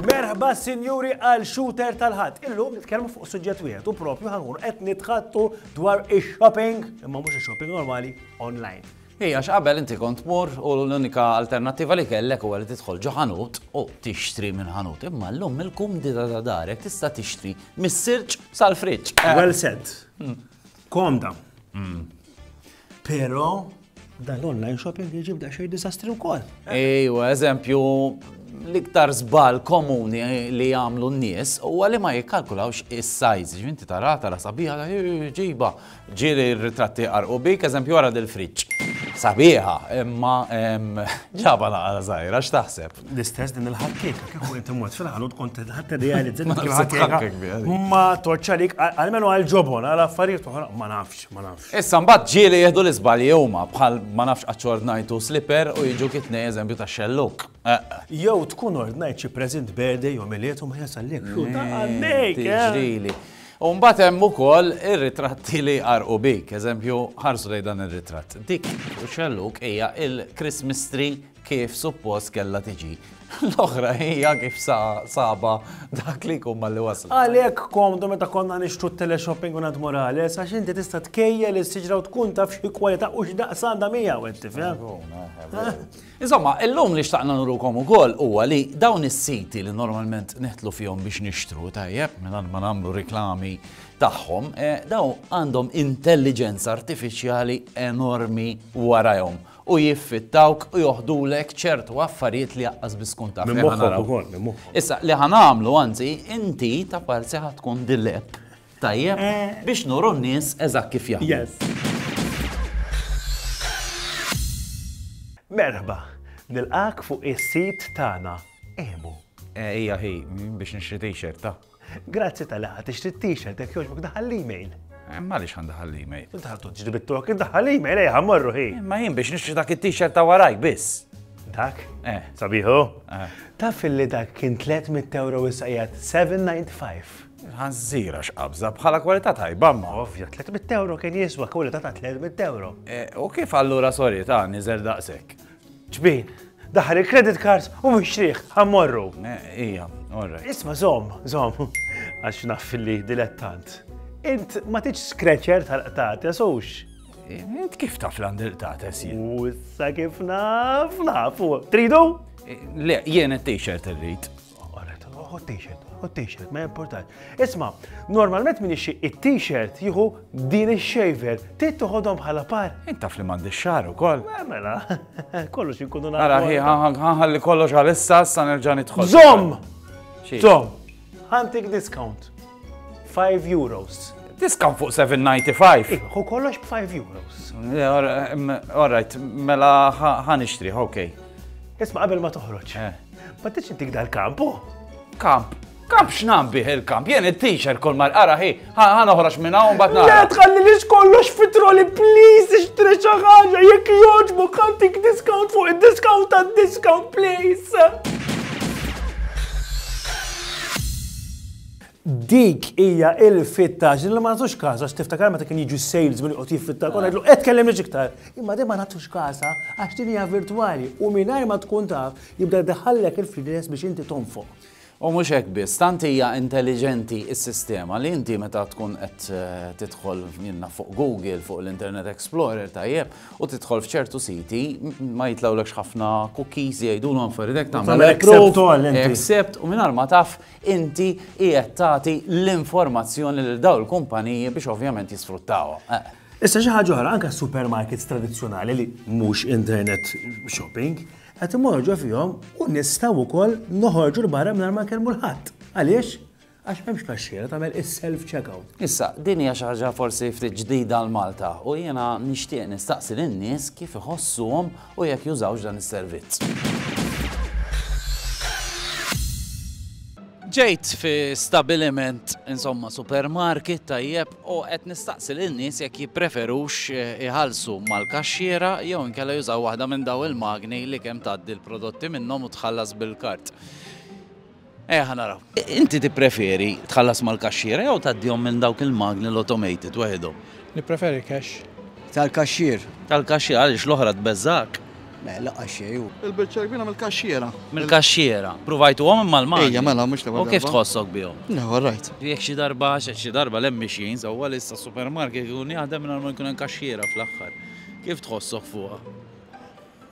Merħba sinjuri għal shooter tal-ħadd. Illum nitkellmu fuq suġġett wieħed u propju ħanħur qed nitħattu dwar ix-shopping, imma mhux ix-shopping normali online. Hi, għax qabel inti kont tmur u l-unika alternattiva li kellek huwa li tidħol ġo ħanut u tixtri minn ħanut. Imma llum mill-kumdita ta' darek tista' tixtri mis-sirġ sal-friġġ. Eh. Well said. Hmm. Komda. Hmm. Però dal-online shopping jġib da xej disastri wkoll. Ejwa, eżempju, l-iktar żball komuni li jagħmlu n-nies huwa li ma jikkalkulawx is-size. Ġvinti tara tara sabiħa ġiba Ġieli r-ritratti jqarrqu bik, eżempju ara dil-friġġ. Sabiħa, imma ġaba naqra żgħira, x'taħseb? L-istess din il-ħakkieka, kieku inti mort fil-ħanut kont ħadd idealizza dik il-ħakkieka. Ma torċa lik, għalmenu għal ġobon, għal affarijiet oħra, ma nafx, ma nafx. Issa mbagħad ġieli jieħdu l-iżbalji huma bħal ma nafx aċċordnajtu slipper u jiġu kitnej eżempju ta' xelluk. Jew tkun ordnajt xi present birthday jew miliet u ma jasal lek. Tiġrili. U mbagħad hemm ukoll ir-ritratti li jqarrqu bik. Eżempju, ħarsu lejn dan ir-ritratt. Dik u xellug hija il-Christmas tree kif suppost kellha tiġi. L-oħra hija kif sa sabha dak li jkun malli waslet. Għalhekk komdu meta konna nixtru t-teleshopping u nad Morales għax inti tista' tkejjel is-siġra u tkun taf xi kwalità u x'daqs għandha miegħu, qed tifhem? Magħqula, eh, veru. Insomma, illum li xtaqna nurukom ukoll huwa li dawn is-siti li normalment neħtlu fihom biex nixtru, tajjeb, mingħand ma nagħmlu riklami tagħhom, eh, dawn għandhom intelliġenza artifiċjali enormi warajhom u jiffittawk u joħdulek ċertu affarijiet li jaqqas biskun taf. Issa, li ħanamlu, anzi, inti ta' parzi ħatkun dilep Tajjeb, biex nuru n-nies eżatt kif jaħdmu. Merħba! Nilqgħek fuq is-sit tagħna Emu. Hija hi, biex nixtri t-shirt, ta. Grazzi tal-li ħadt tixtri t-shirt, jekk jogħġbok daħħal l-email. M'għaliex ħa ndaħħal l-email? Inti ħadd tiġri bit-tok, daħħal l-email, ejja ħammorru hi. Imma jien biex nixtri dak it-t-shirt ta' warajk biss. Dak? Eh. Sabiħu? Taf illi dak kien 300 euro issa qiegħed 795. Il-ħanżir għax qabżha bħala kwalità tajba ma. Ovvja, 300 ewro kien jiswa kwalità ta' 300 ewro. E, u kif allura sorry ta' niżel daqshekk? Ġbin, daħal il-credit cards u mixtrieħ, ħammorru. E, ija, orra. Isma zom, zom, għax naf li dilettant. Int ma tiġ skreċer tal-qtates ux. E, int kif taf l-għandil qtates jien? U issa kif naf, nafu. Tridu? E, le, jien il-t-shirt irrit. t-t-shirt, u t-t-shirt, ma jimportax. Isma, normalment min ixi it-t-shirt jieħu din il-shaver, trid toħodhom bħala par. Intaf li m'għandi xar ukoll. Eh, mela, kollox inkunu nagħmlu. Ara ħi ħanħalli kollox għal issa sa nerġa' nidħol. Zom! Zom! Ħantik discount. 5 euros. Discount fuq 7.95. Hu kollox b'5 euros. All right, mela ħan ixtriħ, ok. Isma qabel ma toħroġ. Eh. Ma tridx intik dal-kamp, oh! Kamp? Kamp x'nam bih il-kamp? Jien it-t-shirt kol mal qara hi, ħa noħroġ minn hawn bad nara. Le tħalli li kollox fitroli please ixtri xi ħaġa jekk jogħġbok ħantik discount fuq id-discount tad-discount please. Dik hija il-fittax li ma nagħtux każ għax tiftakar meta kien jiġu s-salesman joqgħod jiffittax u ngħidlu qed tkellimniex iktar. Imma din ma nagħtux każha għax din hija virtwali u mingħajr ma tkun taf jibda jdaħħallek il-fridges biex inti tonfoq. U mhux hekk biss, tant hija intelliġenti s-sistema li inti meta tkun qed tidħol jien naf fuq Google, fuq l-Internet Explorer tajjeb, u tidħol f'ċertu siti ma jitlgħulekx ħafna cookies jgħidulhom affarijiet hekk tagħmel accept u mingħajr ma taf inti qiegħed tagħti l-informazzjoni lil dawn il-kumpaniji biex ovvjament jisfruttawha. Issa xi ħaġa oħra, anke supermarkets tradizzjonali li mhux internet shopping, qed imorru ġo fihom u nistgħu wkoll noħorġu l-barra mingħajr ma nkellmu l-ħadd. Għaliex? Għax m'hemmx kaxxiera tagħmel is-self checkout. Issa, din hija xi ħaġa forsi ftit ġdida għal Malta u jiena nixtieq nistaqsi lin-nies kif iħossuhom u jekk jużawx dan is-servizz. Ġejt fi stabiliment, insomma, supermarket tajjeb u qed nistaqsi lil nies jekk jippreferux eh, iħallsu mal-kaxxiera jew inkella jużaw waħda minn daw il-magni li kemm tgħaddi l-prodotti minnhom u tħallas bil-kart. Ejja ħa naraw. Inti tippreferi tħallas mal-kaxxiera jew tgħaddihom minn dawk il-magni l-automated waħedhom? Nippreferi cash. Tal-kaxxier. Tal-kaxxier, għaliex l-oħra tbeżżgħek? Le, lanqas xejn hu. Il-biċċa l-kbira mill-kaxxiera. Mill-kaxxiera. Pruvajtuhom imma l-magni? Ejja, mela, mhux l-ewwel darba. U kif tħossok bihom? Le, all right. Jekk xi darba, għax xi darba l-hemm mixjin sewwa li issa supermarket ikun jaħdem mingħajr ma jkun hemm kaxxiera fl-aħħar. Kif tħossok fuqha?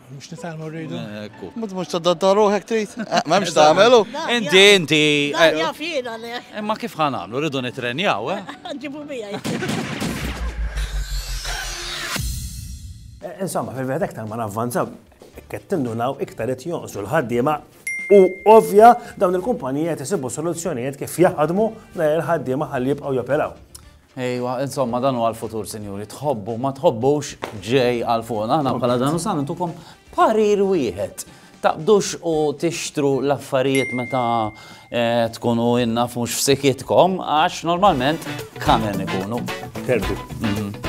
Mux nitalmu rridu. Mux mux tadda ruħek trit. Eh, ma mux tamelu. Inti, inti. Eh, Jafina le. Eh, ma kif ħanamlu, rridu nitrenjaw, eh? Ġibu bija. Insomma, fil-veħed ektar ma navvanza, kettindu naw iktar it jonqsu l-ħaddiema u ovvja dawn il-kumpanija tisibu soluzzjonijiet kif jaħdmu l-ħaddiema ħalli jibqaw joperaw. Ejwa, insomma, dan huwa l-futur, sinjuri. Tħobbu, ma tħobbux ġej għal fuq. Aħna bħala dan usan intukom parir wieħed. Taqbdux u tixtru l-affarijiet meta eh, tkunu innaf mhux f'sikitkom, għax normalment kamen ikunu. Terbi. Mhm.